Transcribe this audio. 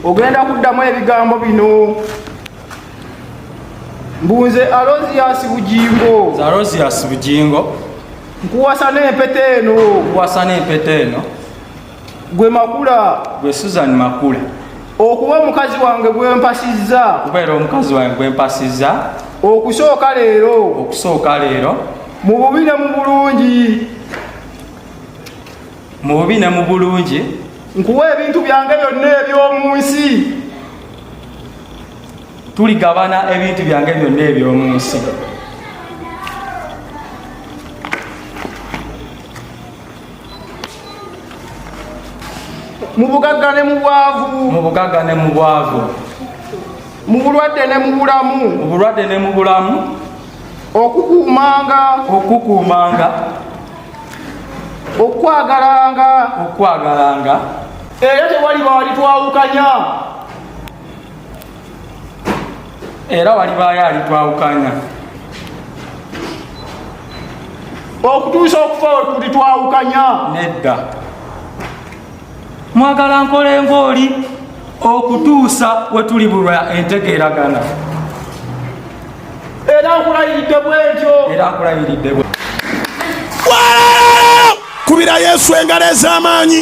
ogenda kuddamu ebigambo bino mbunze alosias bugingo alosias bugingo nkuwasa n'empeta eno nkuwasa n'empeta eno gwe makula gwe susan makula okuba omukazi wange gwempasizza okubeera omukazi wange gwempasizza okusooka leero okusooka leero mu bubi ne mu bulungi mu bubi ne mu bulungi nkuwa ebintu byange byonna eby'omu nsi tuligabana ebintu byange byonna eby'omu nsi mu bugagga ne mu bwavu mu bugagga ne mu bwavu mu bulwadde ne mu bulamu mu bulwadde ne mu bulamu okukuumanga okukuumanga okwagalanga okwagalanga era tewaliba walitwawukanya era walibaayo alitwawukanya okutuusa okufa wekulitwawukanya nedda mwagala nkole ng'oli okutuusa we tuli bulwa entegeeragana era nkulayiridde bwentyo era nkulayiridde bwe kubira yesu engalo ez'amaanyi